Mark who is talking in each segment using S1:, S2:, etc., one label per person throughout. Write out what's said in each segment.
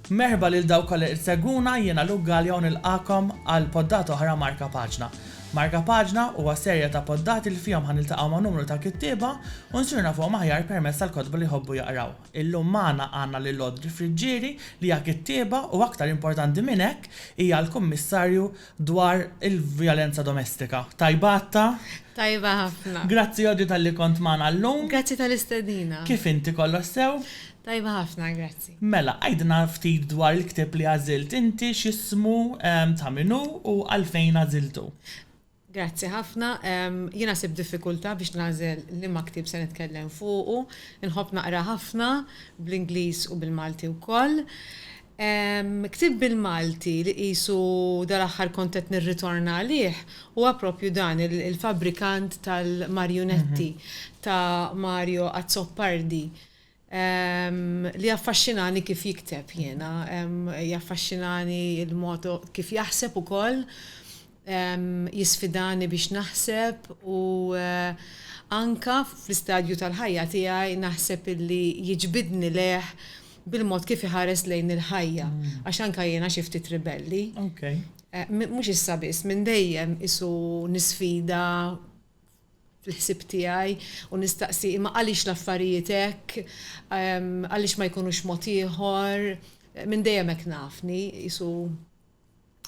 S1: Merħba lil dawk kollha li seguna jiena Luke Gallia u nilqakom għal poddata oħra Marka Paġna. Marka Paġna huwa serja ta' poddati li fihom ħaniltaqgħu ma' numru ta' kittieba u nsiru nafuhom aħjar permezz tal-kotba li jħobbu jaqraw. Illum magħna għandna lil Audrey Friggieri li hija kittieba u aktar importanti minn hekk hija l-Kummissarju dwar il-vjolenza domestika. Tajba Atta? Tajba ħafna. Grazzi Audrey talli kont magħna llum. Grazzi tal-istedina. Kif inti kollox sew? Tajba ħafna, grazzi. Mela, għidna ftit dwar il-ktieb li għażilt inti, x'ismu, ta' min hu u għalfejn għażiltu. Grazzi ħafna. Jiena sibt diffikultà biex nagħżel liema ktieb se nitkellem fuqu. Inħobb naqra ħafna, bl-Ingliż u bil-Malti wkoll. Ktieb bil-Malti li qisu dal-aħħar kont qed nirritorna għalih huwa proprju dan, Il-Fabbrikant tal-Marjunetti ta' Mario Azzopardi, li jaffaxxinani kif jikteb jiena. Jaffaxxinani l-mod kif jaħseb ukoll jisfidani biex naħseb u anke fl-istadju tal-ħajja tiegħi naħseb illi jiġbidni lejh bil-mod kif iħares lejn il-ħajja għax anke jiena xi ftit ribelli. Mhux issa biss, minn dejjem qisu nisfida fil-ħsieb tiegħi u nistaqsi imma għaliex l-affarijiet hekk, għaliex ma jkunux mod ieħor, minn dejjem hekk nafni, qisu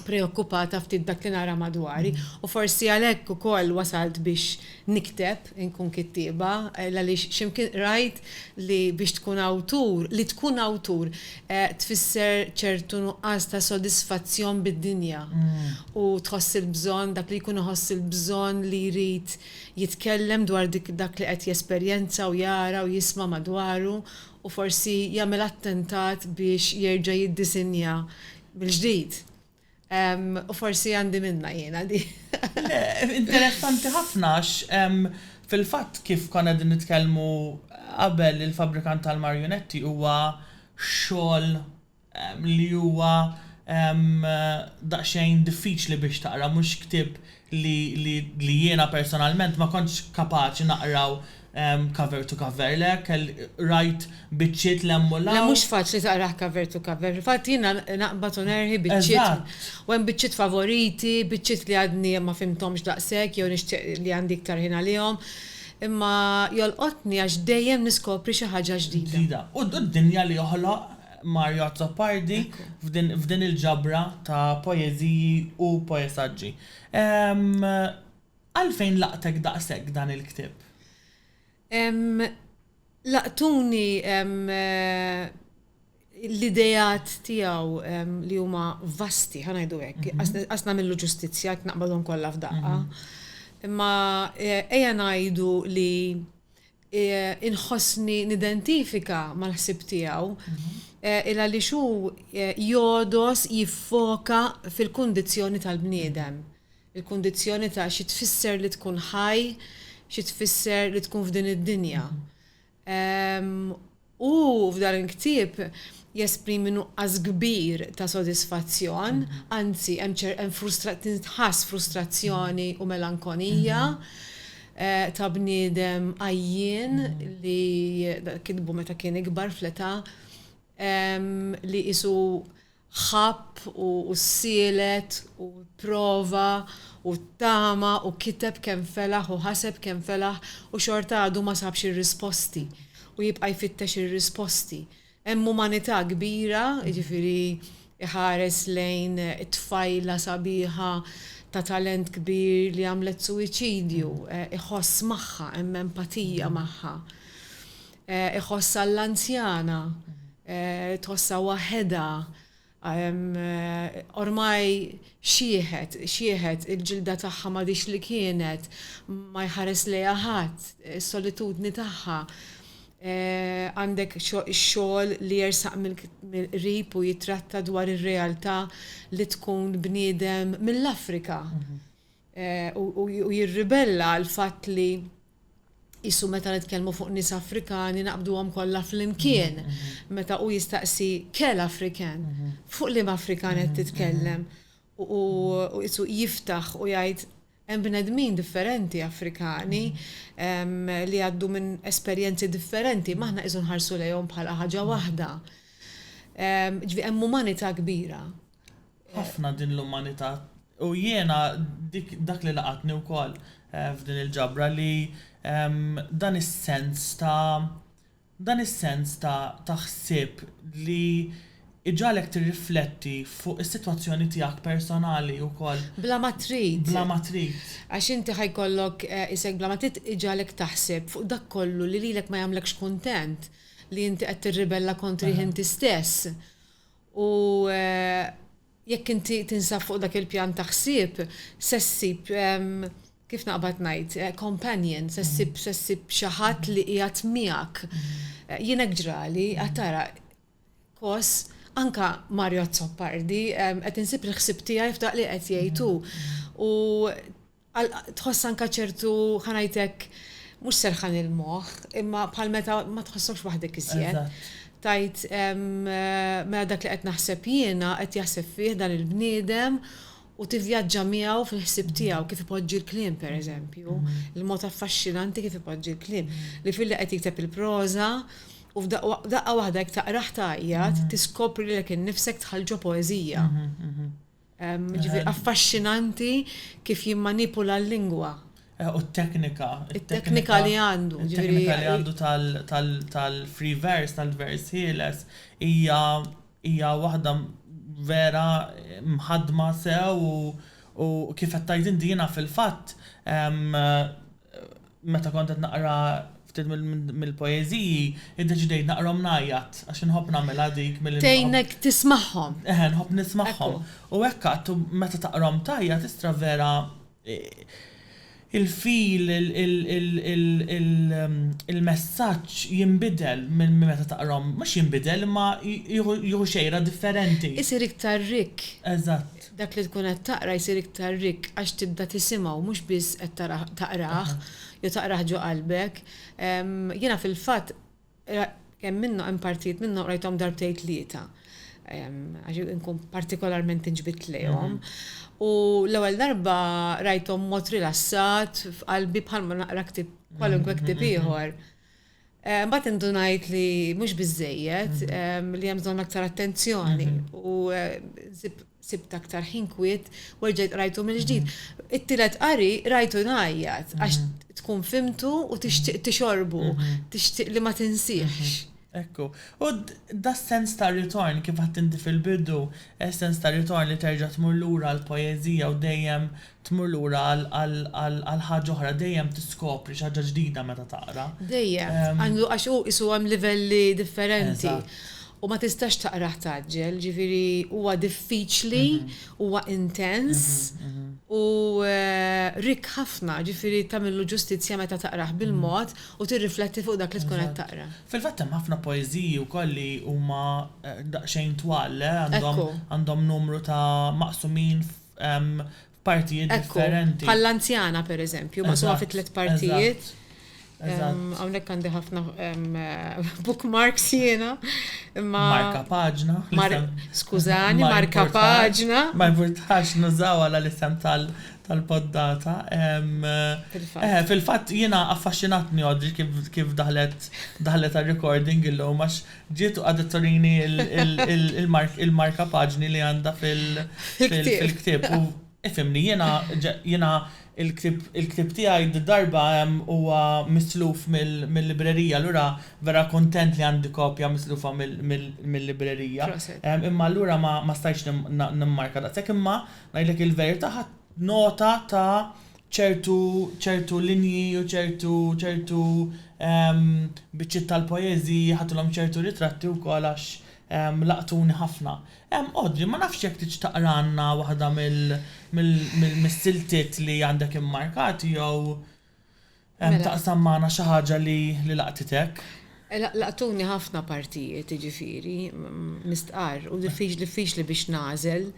S1: preokkupata ftit b'dak li nara madwari u forsi għalhekk ukoll wasalt biex nikteb, inkun kittieba, għaliex xi mkien qrajt li biex tkun awtur, li tkun awtur tfisser ċertu nuqqas ta' sodisfazzjon bid-dinja u tħoss il-bżonn, dak li jkun iħoss il-bżonn li jrid jitkellem dwar dak li qed jesperjenza u jara u jisma' madwaru u forsi jagħmel attentat biex jerġa' jiddisinja mill-ġdid. U forsi għandi minnha jiena di. Le, interessanti ħafna għax fil-fatt kif konna qegħdin nitkellmu qabel il-Fabbrikant tal-Marjunetti huwa xogħol li huwa daqsxejn diffiċli biex taqra, mhux ktieb li li li jiena personalment ma kontx kapaċi naqraw cover to cover le kell qrajt biċċiet l' hemm u l' hawn. Le mhux faċli taqrah cover to cover fil-fatt jiena naqbad u nerħi biċċiet Eżatt. u hemm biċċiet favoriti biċċiet li għadni ma fhimthomx daqshekk jew nixtieq li għandi iktar ħin għalihom imma jolqotni għax dejjem niskopri xi ħaġa ġdida. Ġdida. U d-dinja li joħloq Mario Azzopardi f'din il-ġabra ta' poeżiji u poesaġġi. Għalfejn laqtek daqshekk dan il-ktieb? Laqtuni l-ideat tiegħu li huma vasti, ħa ngħidu hekk, qas nagħmillu ġustizzja jekk naqbadhom kollha f'daqqa. Imma ejja ngħidu li inħossni nidentifika mal-ħsieb tiegħu, il għaliex hu jogħdos jiffoka fil-kundizzjoni tal-bniedem, il-kundizzjoni ta' xi tfisser li tkun ħaj, xi tfisser li tkun f'din id-dinja. Hu f'dan il-ktieb jesprimi nuqqas kbir ta' sodisfazzjon, anzi hemm ċer hemm frustra tintħass frustrazzjoni u melankonija ta' bniedem għajjien li kitbu meta kien ikbar fl-età li qisu ħabb u ssielet u pprova u ttama u kiteb kemm felaħ u ħaseb kemm felaħ u xorta għadu ma sabx ir-risposti u jibqa' jfittex ir-risposti. Hemm umanità kbira, jiġifieri iħares lejn tfajla sabiħa ta' talent kbir li għamlet suwiċidju, iħoss magħha, hemm empatija magħha. Iħossha l-anzjana, tħossha waħedha, ormai xiħet, xiħet, il-ġilda tagħha m'għadhiex li kienet, ma jħares lejha ħadd, is-solitudni tagħha. Għandek xogħol li jersaq mill-qrib u jittratta dwar ir-realtà li tkun bniedem mill-Afrika. u jirribella għall-fatt li qisu meta nitkellmu fuq nies Afrikani naqbduhom kollha flimkien, meta hu jistaqsi quel Africain? Fuq liema Afrikan qed titkellem? U qisu jiftaħ u jgħid hemm bnedmin differenti Afrikani li jgħaddu minn esperjenzi differenti, imma aħna qisu nħarsu lejhom bħala ħaġa waħda. Jiġifieri hemm umanità kbira. Ħafna din l-umanità. U jiena dak li laqatni wkoll eh, f'din il-ġabra li ehm, dan is-sens ta' dan is-sens ta' ta' ħsieb li iġalek tirrifletti fuq is-sitwazzjoni tiegħek personali wkoll. Bla ma trid. Bla ma trid. Għax inti ħajkollok eh, isek bla ma trid iġalek taħseb fuq dak kollu li lilek ma jagħmlekx kuntent li inti qed tirribella kontri inti stess. U jekk inti tinsab fuq dak il-pjan ta' ħsieb, se ssib, kif naqbad ngħid, companion, se ssib se ssib xi ħadd li qiegħed miegħek. Jien hekk ġrali, qed tara, kos, anke Mario Azzopardi, qed insib il-ħsieb tiegħi f'dak li qed jgħid hu. U Għal tħoss anke ċertu, ħa ngħidlek, mhux serħan il-moħħ, imma bħal meta ma tħossokx waħdek iżjed. Tgħid, mela dak li qed naħseb jiena qed jaħseb fih dan il-bniedem u tivvjaġġa miegħu fil-ħsieb tiegħu kif ipoġġi l-kliem pereżempju, il-mod affaxxinanti kif ipoġġi l-kliem. Li filli qed jikteb il-proża u f'daqqa waħda jekk taqrah tgħajjat, tiskopri lilek innifsek dħalt ġo poeżija. Jiġifieri affaxxinanti kif jimmanipula l-lingwa. U t-teknika. It-teknika li għandu. It-teknika li għandu tal-free verse, tal-vers ħieles, hija waħda vera mħaddma sew u kif qed tgħid inti jiena fil-fatt Meta kont qed naqra ftit mill-poeżiji, iddeċidejt naqrahom ngħajjat għax inħobb nagħmilha dik milli. Tgħinek tismagħhom. Eħe, nħobb nismagħhom. U hekk għad u meta taqrahom tgħajjat tistra vera il-feel, il-messaġġ jinbidel minn meta taqrahom, mhux jinbidel imma jieħu xejra differenti. Isir iktar rikk. Eżatt. Dak li tkun qed taqra jsir iktar rikk għax tibda tisimgħu mhux biss qed tarah taqrah jew taqrah ġo qalbek. Jiena fil-fatt hemm minnho hemm partijiet minnhom qrajthom darbtejn tlieta għax inkun partikolarment inġbidt lejhom. U l-ewwel darba qrajthom b'mod rilassat f'qalbi bħalma naqra ktieb kwalunkwe ktieb ieħor. Mbagħad indunajt li mhux biżżejjed, mhm. li hemm bżonn aktar attenzjoni mhm. u sibt aktar ħin kwiet u rġajt rajtu mill-ġdid. Mhm. It-tielet qari rajtu ngħajjat għax tkun fimtu u tixtieq tixorbu, tixtieq li ma tinsiex. Ekku, u da sens ta' ritorn kif għattinti fil-bidu, eh, sens ta' ritorn li terġa' tmur lura l-poezija u dejjem Tmur lura għal ħaġa oħra, dejjem tiskopri xi ħaġa ġdida meta taqra. Dejjem, għax hu qisu hemm livelli differenti. U ma tistax taqrah tgħaġġel, jiġifieri huwa diffiċli, huwa intens u rikk ħafna, jiġifieri tagħmillu ġustizzja meta taqrah bil-mod u tirrifletti fuq dak li tkun qed taqra. Fil-fatt hemm ħafna poeżiji wkoll li huma daqsxejn twal, le? Għandhom numru ta' maqsumin f'partijiet differenti. Ekku, bħall-anzjana per eżempju, ma suma fi tliet partijiet. Għawnek għandi ħafna bookmarks jena. Marka paġna. Skużani, marka paġna. Ma importax nużaw għala l-isem tal-poddata. Eh, Fil-fat jena affaxxinatni għodri kif daħlet għal-recording il-lum, għax Ġiet u qagħdet turini l-markapaġni li għandha fil-ktieb u ifhimni, jiena l-ktieb tiegħi d-darba huwa misluf mil-librerija allura vera kuntent li għandi kopja mislufa mil-librerija. Imma allura ma stajtx nimmarka daqshekk imma ngħidlek il-verità ħadt nota ta' ċertu ċertu linji u ċertu ċertu biċċiet tal-poeżiji, ħadtilhom ċertu ritratti wkoll għax laqtuni ħafna. Audrey, ma nafx jekk tridx taqralna waħda mis-siltiet li għandek immarkati jew taqsam magħna xi ħaġa li laqtitek. Laqtuni ħafna partijiet, jiġifieri, mistqarr, u diffiċli biex nagħżel.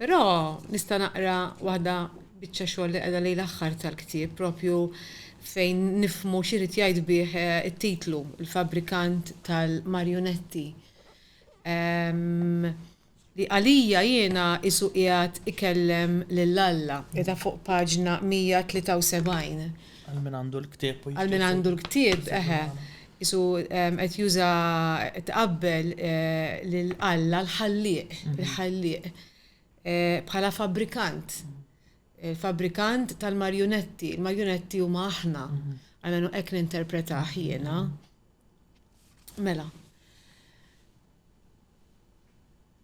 S1: Però nista' naqra waħda biċċa xogħol li qiegħda lejn l-aħħar tal-ktieb propju fejn nifhmu x'irid jgħid bih it-titlu, Il-Fabbrikant tal-Marjunetti, li għalija jiena qisu qiegħed ikellem lil Alla, qiegħda fuq paġna 173. Għal min għandu l-ktieb. Għal min għandu l-ktieb, eħe. Qisu qed juża tqabbel lil Alla l-Ħallieq, il-Ħallieq, bħala fabbrikant, il-fabbrikant tal-marjunetti. Il-marjunetti huma aħna, almenu hekk ninterpretah jiena. Mela,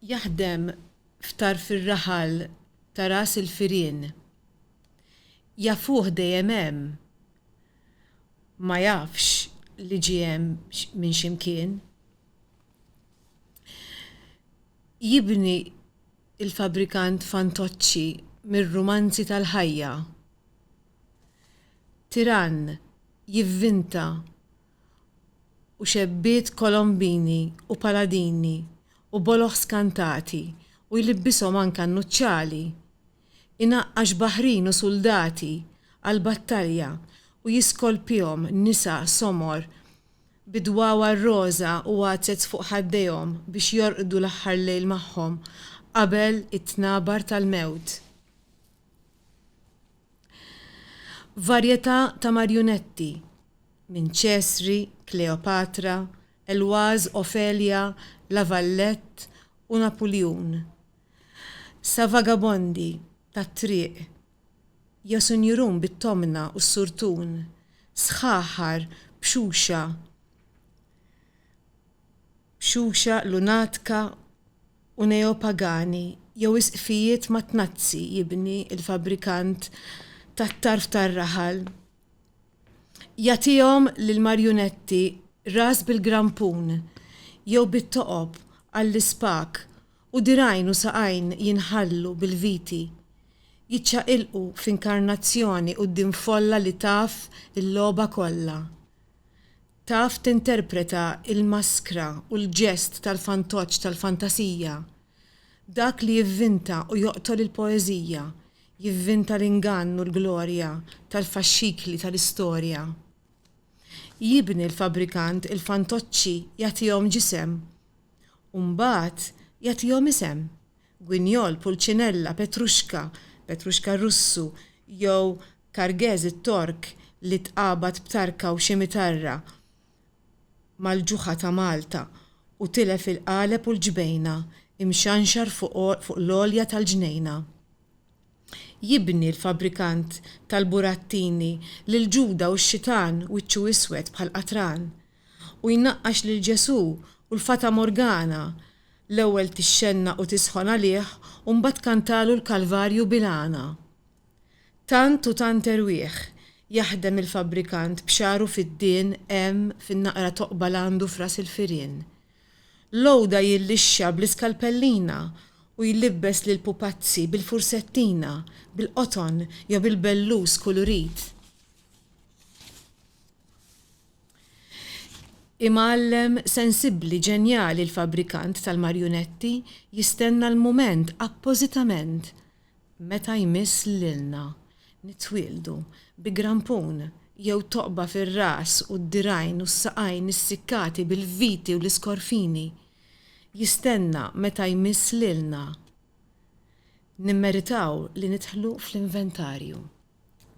S1: jaħdem f'tarf ir-raħal ta' ras il-firien. Jafuh dejjem hemm, ma jafx li ġie hemm minn xi mkien. Jibni l-fabbrikant fantoċċi mir-rumanzi tal-ħajja. Tirann jivvinta u xebbiet kolombini u paladini u boloh skantati u jlibbishom anke annuċċali. inaqqax baħrin u suldati għall-battalja u jiskolpihom nisa somor bi dwawar roża u għadsets fuq ħaddejhom biex jorqdu l-aħħar lejl magħhom qabel it-tnabar tal-mewt. Varjetà ta' marjunetti minn Ċesri, Kleopatra, Elwaz, Ofelia, La Vallette u Napuljun Sa vagabondi tat-triq jew sunjurun bit-tomna u s-surtun, sħaħar b'xuxa b'xuxa lunatka u neopagani jew isqfijiet mat-tnazzi jibni l-fabbrikant tat-tarf tar-raħal. Jagħtihom lill-marjunetti ras bil-grampun jew bit-toqob għall-ispak U dirgħajn u saqajn jinħallu bil-viti, jiċċaqilqu f'inkarnazzjoni quddiem folla li taf il-logħba kollha. Taf tinterpreta l-maskra u l-ġest tal-fantoċċ tal-fantasija. Dak li jivvinta u joqtol il-poeżija, jivvinta l-ingann u l-glorja tal-faxxikli tal-istorja. Jibni l-fabbrikant il-fantoċċi jagħtihom ġisem. U mbagħad jagħtihom isem, gwinjol, pulċinella, petruxka, petruxka r-Russu, jew kargeż it-Tork li tqabad b'tarka u ximitarra mal-ġuħa ta' Malta u tilef il-qaleb u l-ġbejna, imxanxar fuq l-għolja tal-ġnejna. Jibni l-fabbrikant tal-burattini lil Ġuda u x-xitan wiċċu iswed bħal qatran, u jnaqqax lil Ġesù u l-Fata Morgana, l-ewwel tixxennaq u tisħon għalih u mbagħad tkantalu l-Kalvarju bil-għana. Tant u tant erwieħ jaħdem il-fabbrikant b'xagħru fid-dien hemm fin-naqra toqba l għandu f'ras il-firien. L-għoda jillixxa bl-iskalpellina u jlibbes lill-pupazzi bil-fursettina, bil-qoton jew bil-bellus kulurit. Imgħallem sensibbli ġenjali l-fabbrikant tal-marjunetti jistenna l-mument appożitament Meta jmiss lilna nitwieldu bi grampun jew toqba fir-ras u d-dirgħajn u s-saqajn issikkati bil-viti u l-iskorfini, jistenna meta jmiss lilna nimmeritaw li nidħlu fl-inventarju.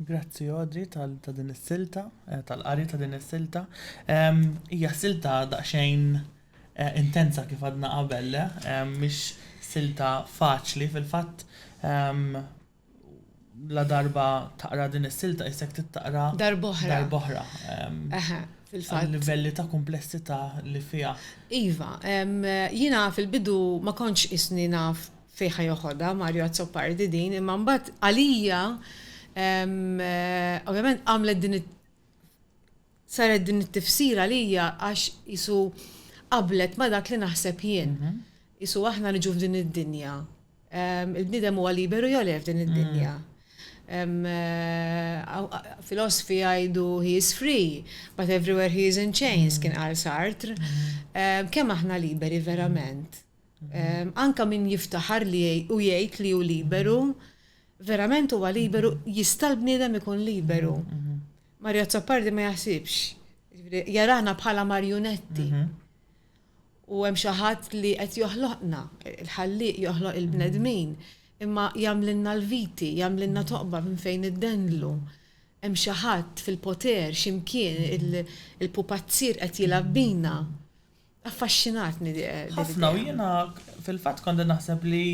S1: Grazzi Audrey tal ta' din is-silta, eh, tal-qari ta' din is-silta. Em, Hija silta daqsxejn eh, intensa kif għadna qabel, le? Em, Mhix silta faċli fil-fatt. em, La darba taqra din is-silta isek tittaqra Darb'oħra. darb'oħra. em, Eħe, fil-fatt. Għal-livelli ta' kumplessità li fiha. Iva, em, jiena fil-bidu ma kontx isni naf fejn ħa joħodha Mario Azzopardi din imma mbagħad għalija ovvjament għamlet din saret din it-tifsira għalija għax isu qablet ma dak li naħseb jien. Mhm. Isu aħna niġu f'din id-dinja. Il-bniedem huwa liberu jew le f'din id-dinja. Mhm. Eh, filosofi għajdu he is free, but everywhere he is in chains, mm. kien għal Sartre. Mm. Kemm aħna liberi verament? Anke min jiftaħar li u jgħid li hu liberu, verament huwa liberu? Jista' l-bniedem ikun liberu? Mario Azzopardi ma jaħsibx. Jiġifieri, jarana bħala marjunetti. U hemm xi ħadd li qed joħloqna, il-ħallieq joħloq il-bnedmin, imma jagħmlilna l-viti, jagħmlilna toqba minn fejn iddendlu. Hemm xi ħadd fil-poter xi mkien, il-pupazzir qed jilgħab bina. Affaxxinatni di. Ħafna u jiena fil-fatt kont qed naħseb li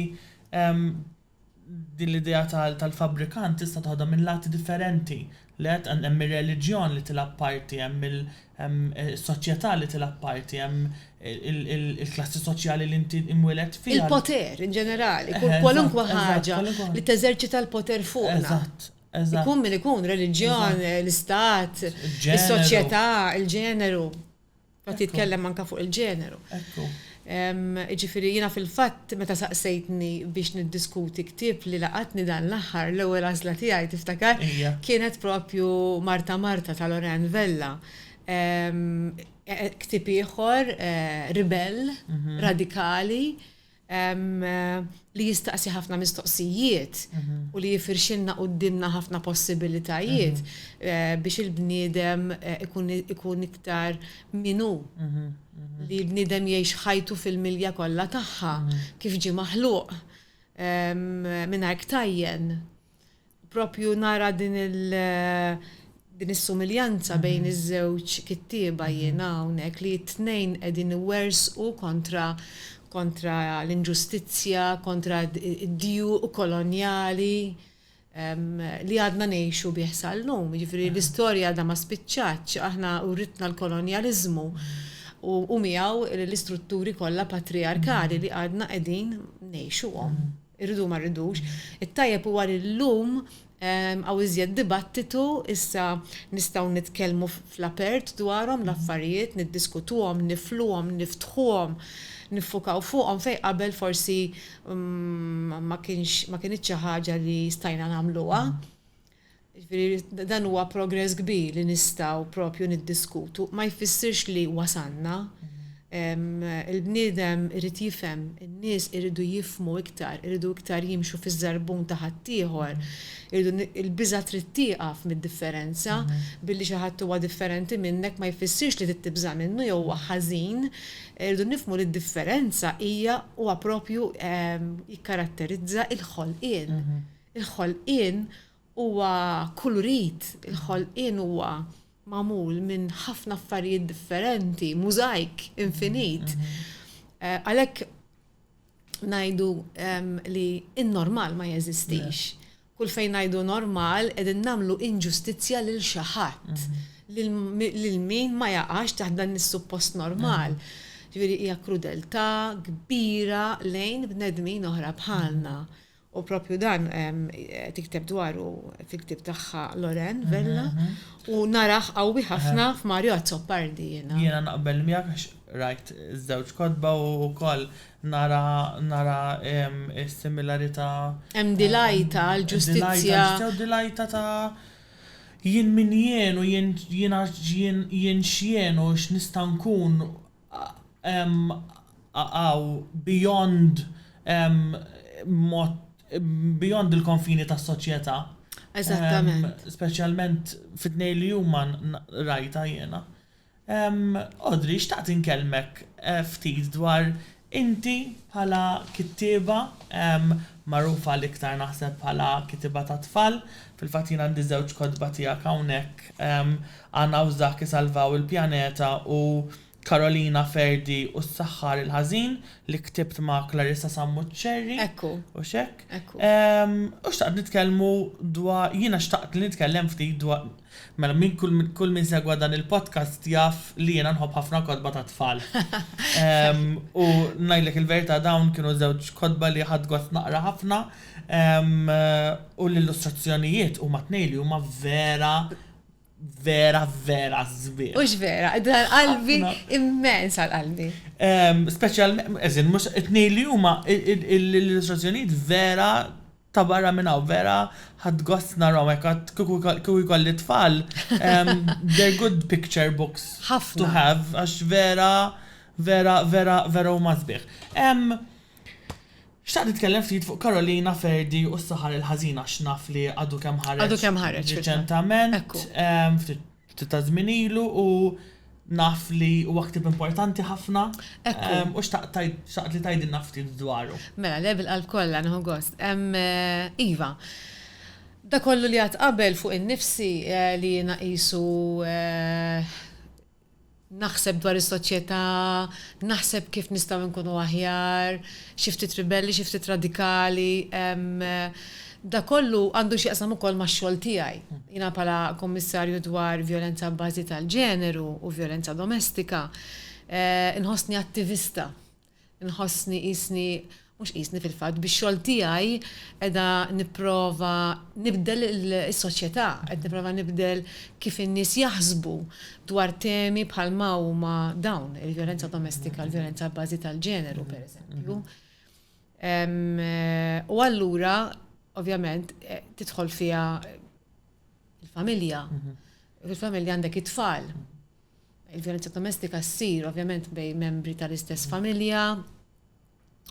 S1: din l-idea tal-fabbrikant tista' toħodha minn lati differenti. Li qed hemm ir-reliġjon li tilgħab parti, hemm is-soċjetà li tilgħab parti, hemm il-klassi soċjali li inti imwieled fiha. Il-poter in ġenerali, kwalunkwe ħaġa li teżerċita l-poter fuqna. Eżatt, eżatt. Ikun min ikun, reliġjon, l-istat, is-soċjetà, il-ġeneru. Qed jitkellem anke fuq il-ġeneru. Ekku. Jiġifieri jiena fil-fatt meta saqsejtni biex niddiskuti ktieb li laqatni dan l-aħħar, l-ewwel għażla tiegħi tiftakar? Ija. Kienet proprju Marta Marta ta' Lorraine Vella. Ktieb ieħor ribell, radikali, li jistaqsi ħafna mistoqsijiet u li jifirxilna quddiemna ħafna possibilitajiet biex il-bniedem ikun iktar minnu. Li l-bniedem jgħix ħajtu fil-milja kollha tagħha kif ġie maħluq mingħajr ktajjen. Propju nara din il din is-sumiljanza bejn iż-żewġ kittieba jiena hawnhekk li t-tnejn qegħdin iwerżqu kontra kontra l-inġustizzja, kontra d-djuq kolonjali li għadna ngħixu bih sal-lum. Jiġifieri l-istorja għadha ma spiċċatx, aħna uritna l-kolonjaliżmu u miegħu l-istrutturi kollha patrijarkali li għadna qegħdin ngħixuhom. Irridu u ma rridux. It-tajjeb huwa li llum hawn iżjed dibattitu, issa nistgħu nitkellmu fl-apert dwarhom l-affarijiet, niddiskutuhom, nifluhom, niftħuhom, niffukaw fuqhom fejn qabel forsi ma kienx ma kinitx xi ħaġa li stajna nagħmluha. Jiġifieri dan huwa progress kbir li nistgħu propju niddiskutu. Ma jfissirx li wasalna. Il-bniedem irid jifhem, in-nies iridu jifhmu iktar, iridu iktar jimxu fiż-żarbun ta' ħaddieħor, iridu il-biża' trid tieqaf mid-differenza, billi xi ħadd huwa differenti minnek ma jfissirx li trid tibża' minnu jew huwa ħażin, irridu nifhmu li d-differenza hija huwa propju jikkaratterizza l-ħolqien. Il-ħolqien huwa kulurit, il-ħolqien huwa magħmul minn ħafna affarijiet differenti, mużajk infinit. Għalhekk ngħidu li n-normal ma jeżistix. Kull fejn ngħidu normal qegħdin nagħmlu inġustizzja lil xi ħadd, lil min ma jaqax taħt dan is-suppost normal. Ġifieri hija krudeltà kbira lejn bnedmin oħra bħalna. U propju dan tikteb dwaru fil-ktieb tagħha Loren Vella u narah qawwi ħafna f'Mario Azzopardi jiena. Jiena naqbel miegħek għax rajt iż-żewġ kotba u wkoll nara nara s-similarità. Hemm dilajta għal ġustizzja. Hemm dilajta ta' jien min jien u jiena jien x'jien u x'nista' nkun għaw beyond mod beyond il-konfini tas-soċjetà. Eżattament. Speċjalment fit-tnejn li huma rajta jiena. Audrey, xtaqt inkellmek ftit dwar inti bħala kittieba magħrufa l-iktar naħseb bħala kittieba tat-tfal, fil-fatt jien għandi żewġ kotba tiegħek hawnhekk Anna u Zach isalvaw il-pjaneta u Karolina, Ferdi u s-saħħar il-ħażin li ktibt ma' Clarissa Sammuċċerri. Ekku. U x'hekk. Ekku. Ehm, u xtaqt nitkellmu dwa, jiena xtaqt li nitkellem ftit dwa, mela min kull, kull min segwa dan il-podcast jaf li jiena nħobb ħafna kotba tat-tfal. Ehm, u ngħidlek il-verità dawn kienu żewġ kotba li ħadt gost naqra ħafna, ehm, u l-illustrazzjonijiet huma t-tnejn li huma vera vera, vera zbir. Ux vera, dan qalbi immens għal qalbi. Speċjal, eżin, mux it-nej li huma l-illustrazzjonijiet vera ta' barra minna u vera ħad gost narraw għekat kiku jkolli tfal. They're good picture books to have, għax vera, vera, vera, vera u mażbieħ. Xtaqt nitkellem ftit fuq Karolina Ferdi u s-saħar il-ħażin għax naf li għadu kemm ħareġ Għadu kemm ħareġ fil-fatt. riċentament, Ekku. ftit ftit taż-żmien ilu u naf li huwa ktieb importanti ħafna Ekku. u xtaqt tgħid xtaqt li tgħidilna ftit dwaru. Mela, le bil-qalb kollha, nieħu gost. Iva, dak kollu li għadt qabel fuq innifsi li jiena qisu Naħseb dwar is-soċjetà, naħseb kif nistgħu nkunu aħjar, xi ftit ribelli, xi ftit radikali. Dak kollu għandu x'jaqsam ukoll max-xogħol tiegħi. Jiena bħala Kummissarju dwar Vjolenza Abbażi tal-Ġeneru u Vjolenza Domestika, inħossni attivista. Inħossni qisni, mhux qisni fil-fatt, bix-xogħol tiegħi qiegħda nipprova nibdel is-soċjetà, qed nipprova nibdel kif in-nies jaħsbu dwar temi bħal ma huma dawn, il-vjolenza domestika, l-vjolenza abbażi tal-ġeneru, pereżempju. U allura, ovvjament, tidħol fiha il-familja. Fil-familja għandek it-tfal. Il-vjolenza domestika ssir ovvjament bejn membri tal-istess familja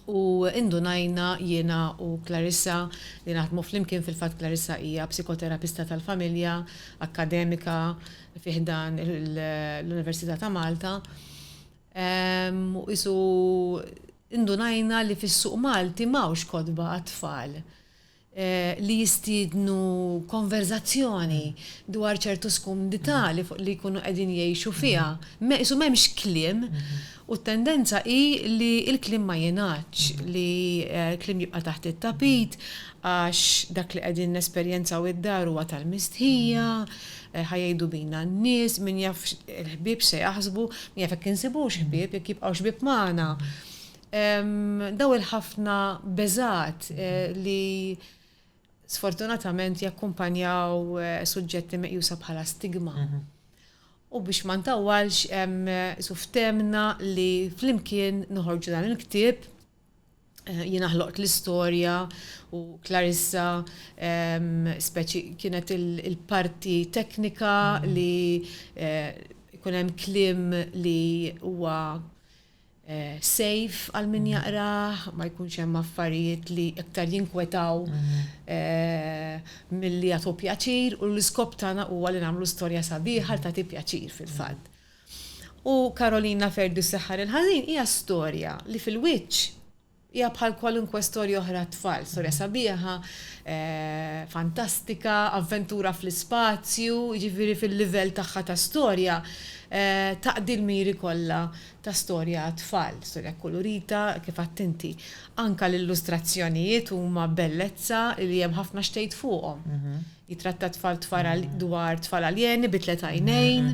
S1: u indunajna jiena u Clarissa li naħdmu flimkien, fil-fatt Clarissa hija psikoterapista tal-familja, akkademika fi ħdan l-Università ta' Malta, u qisu indunajna li fis-suq Malti m'hawnx kotba għat-tfal. li jistiednu konverżazzjoni dwar ċertu skumdità li jkunu qegħdin jgħixu fiha. Qisu m'hemmx kliem u t-tendenza hi li l-kliem ma jingħadx, li l-kliem jibqa' taħt it-tapit għax dak li qegħdin nesperjenzaw id-dar huwa tal-mistħija, ħa jgħidu bina n-nies, min jaf il-ħbieb x'se jaħsbu, min jaf jekk insibux ħbieb, jekk jibqgħux ħbieb magħna. Dawn il-ħafna beżgħat li sfortunatament jakkumpanjaw suġġetti meqjusa bħala stigma. U biex ma ntawwalx, qisu ftemna li flimkien noħorġu dan il-ktieb, jiena ħloqt l-istorja u Clarissa speċi kienet il-parti teknika li jkun hemm kliem li huwa sejf għal min jaqrah, ma jkunx hemm affarijiet li iktar jinkwetaw milli jagħtu pjaċir u l-iskop tagħna huwa li nagħmlu storja sabiħa li tagħti pjaċir fil-fatt. U Karolina Ferdu s-Seħħar il-Ħażin hija storja li fil-wiċċ Hija bħal kwalunkwe storja oħra għat-tfal, storja sabiħa, fantastika, avventura fl-ispazju, jiġifieri fil-livell tagħha ta' storja taqdi l-miri kollha ta' storja għat-tfal, storja kkulurita kif għedt inti. Anke l-illustrazzjonijiet huma bellezza li hemm ħafna x'tgħid fuqhom. Jitratta tfal dwar tfal aljeni bi tliet għajnejn.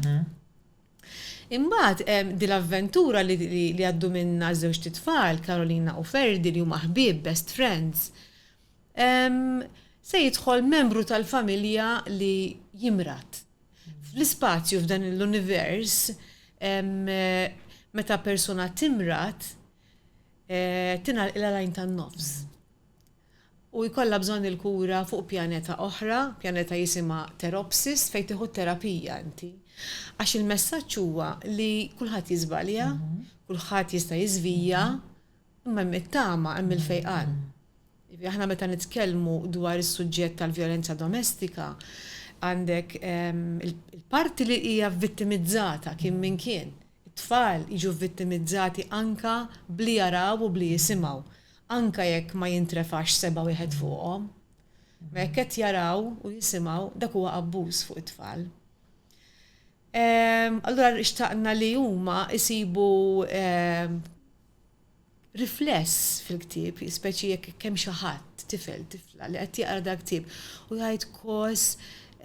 S1: Imbagħad hemm din l-avventura li li għaddu minnha żewġt itfal, Carolina u Ferdy li huma ħbieb, best friends. Ehm, se jidħol membru tal-familja li jimrad. Fl-ispazju f'dan il-univers, ehm, meta persuna timrad, eh, tingħalqilha l-għajn tan-nofs. u jkollha bżonn il-kura fuq pjaneta oħra, pjaneta jisimha Therapsis fejn tieħu t-terapija inti. Għax il-messaġġ huwa li kulħadd jiżbalja, kulħadd jista' jiżvija, imma hemm it-tama, hemm il-fejqan. Jiġifieri aħna meta nitkellmu dwar is-suġġett tal-vjolenza domestika, għandek il-parti li hija vittimizzata kien min kien. It-tfal jiġu vittimizzati anke b'li jaraw u b'li jisimgħu. anke jekk ma jintrefax seba' wieħed fuqhom. Imma jekk qed jaraw u jisimgħu, dak huwa abbuż fuq it-tfal. Allura xtaqna li huma jsibu rifless fil-ktieb, speċi jekk hemm xi ħadd, tifel, tifla, li qed jaqra dal-ktieb u jgħid, 'Kos,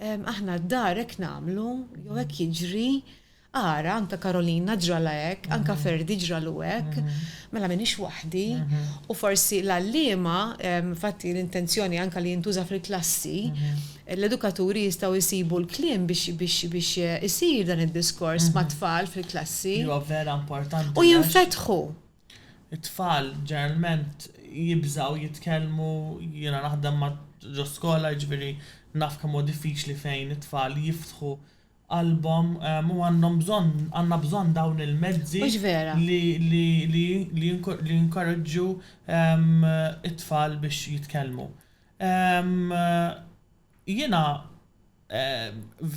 S1: aħna d-dar hekk nagħmlu, jew hekk jiġri, Ara, anke Karolina ġralha hekk, anke Ferdi ġralu hekk, mela m'iniex waħdi. U forsi l-għalliema, infatti l-intenzjoni anke li jintuża fil-klassi, l-edukaturi jistgħu jsibu l-kliem biex isir dan id-diskors mat-tfal fil-klassi. Li huwa vera importanti. U jinfetħu. It-tfal ġeneralment jibżgħu jitkellmu, jiena naħdem ġo skola jiġifieri naf kemm huwa diffiċli fejn it-tfal jiftħu qalbhom u għandhom bżonn, għandna bżonn dawn il-mezzi li jinkoraġġu t-tfal biex jitkellmu. Jiena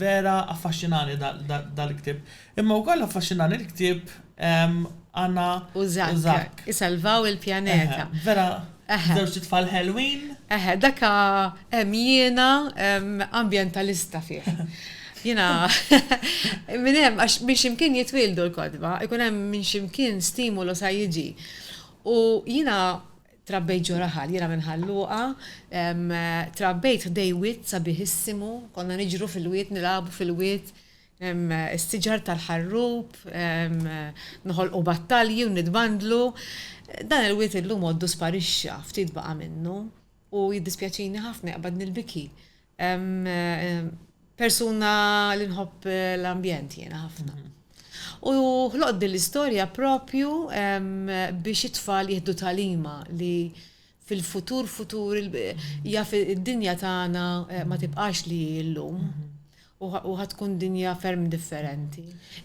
S1: vera affaxxinani dal-ktieb, imma wkoll affaxxinani l-ktieb Anna u Zak. Isalvaw il-pjaneta. Vera, żewġ titfal ħelwin. Eħe, daka hemm jiena ambjentalista fih. Jiena minn hemm għax minn ximkien jitwildu l-kodba, ikun hemm minn ximkien stimulu sa jiġi. U jiena trabbejt ġo raħal, jiena minn ħalluqa, trabbejt ħdej wied sabiħissimu, konna niġru fil-wied, nilagħbu fil-wied, is-siġar tal-ħarrub, noħolqu battalji u nitbandlu. Dan il-wied illum għoddu sparixxa, ftit baqa' minnu, u jiddispjaċini ħafna, jaqbadni l-biki. Persuna li nħobb l-ambjent jiena ħafna. U ħloqt din l-istorja proprju biex it-tfal jieħdu tagħlima li fil-futur futur jaf id-dinja tagħna ma tibqax li hi llum u ħa tkun dinja ferm differenti.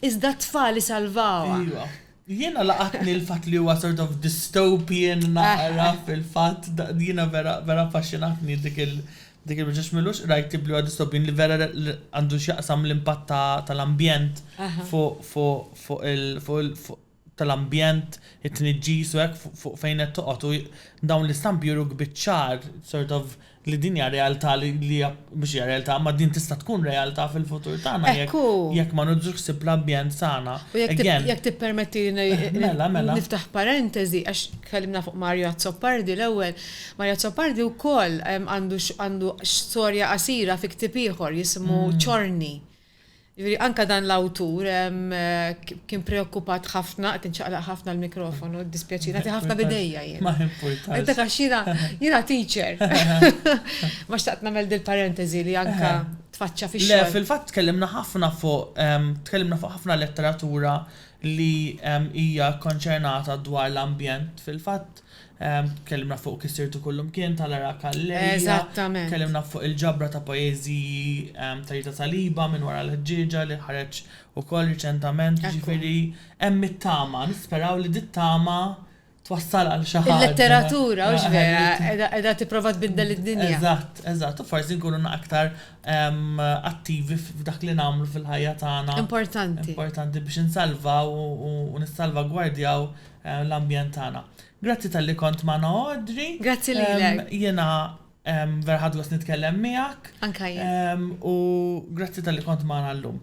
S1: Iżda t-tfal isalvawha. Iva. Jiena laqatni l-fatt li huwa sort of dystopian naqra fil-fatt jiena vera vera affaxxinatni dik il- dik il ġax milux qrajt tip li huwa dystopian li vera għandu x'jaqsam l-impatt tal-ambjent fuq fuq fuq il fuq tal-ambjent, it-tniġġis u hekk fuq fejn qed toqgħod u dawn l-istampi juruk biċ-ċar sort of li din hija realtà li hija mhux hija realtà imma din tista' tkun realtà fil-futur tagħna jekk jekk ma niġux ħsieb l-ambjent tagħna. U jekk again jekk tippermettili ngħid Mela, mela. niftaħ parentesi għax tkellimna fuq Mario Azzopardi l-ewwel. Mario Azzopardi wkoll għandu għandu storja qasira fi ktieb ieħor jismu Ċorni. Jiġifieri anke dan l-awtur kien preokkupat ħafna, qed inċaqlaq ħafna l-mikrofonu, jiddispjaċini, nagħti ħafna b'idejja jien. Ma jimpurtax. Dak għax jiena jiena teacher. Ma xtaqt nagħmel dil-parenteżi li anke tfaċċa fix-xogħol. Le, fil-fatt tkellimna ħafna fuq tkellimna fuq ħafna letteratura li hija kkonċernata dwar l-ambjent. Fil-fatt, Tkellimna fuq Kif Sirtu Kullimkien ta' Lara Calleja. Eżattament. Tkellimna fuq il-ġabra ta' poeżiji ta' Rita Saliba, Minn Wara l-Ħġieġa, li ħareġ ukoll riċentament. Jiġifieri hemm it-tama, nisperaw li dit-tama twassal għal xi ħaġa. Il-letteratura, hux vera, qiegħda tipprova tbiddel id-dinja. Eżatt, eżatt. U forsi nkunu aktar attivi f'dak li nagħmlu fil-ħajja tagħna. Importanti. Importanti biex insalvaw u nissalvagwardjaw. l-ambjent tagħna. Grazzi talli kont magħna Audrey. Grazzi lilek. Jiena vera ħadt gost nitkellem miegħek. Anke jien. U grazzi talli kont magħna llum.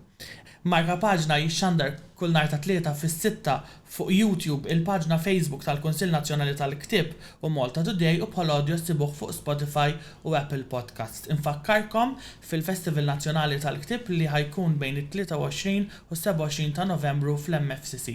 S1: Marka Paġna jixxandar kull nhar tat-Tlieta fis-sitta fuq YouTube, il-paġna Facebook tal-Kunsill Nazzjonali tal-Ktieb u Malta Today u bħal audio ssibuh fuq Spotify u Apple Podcasts. Infakkarkom fil-Festival Nazzjonali tal-Ktieb li ħa jkun bejn it-23 u s-27 ta' Novembru fl-MFCC.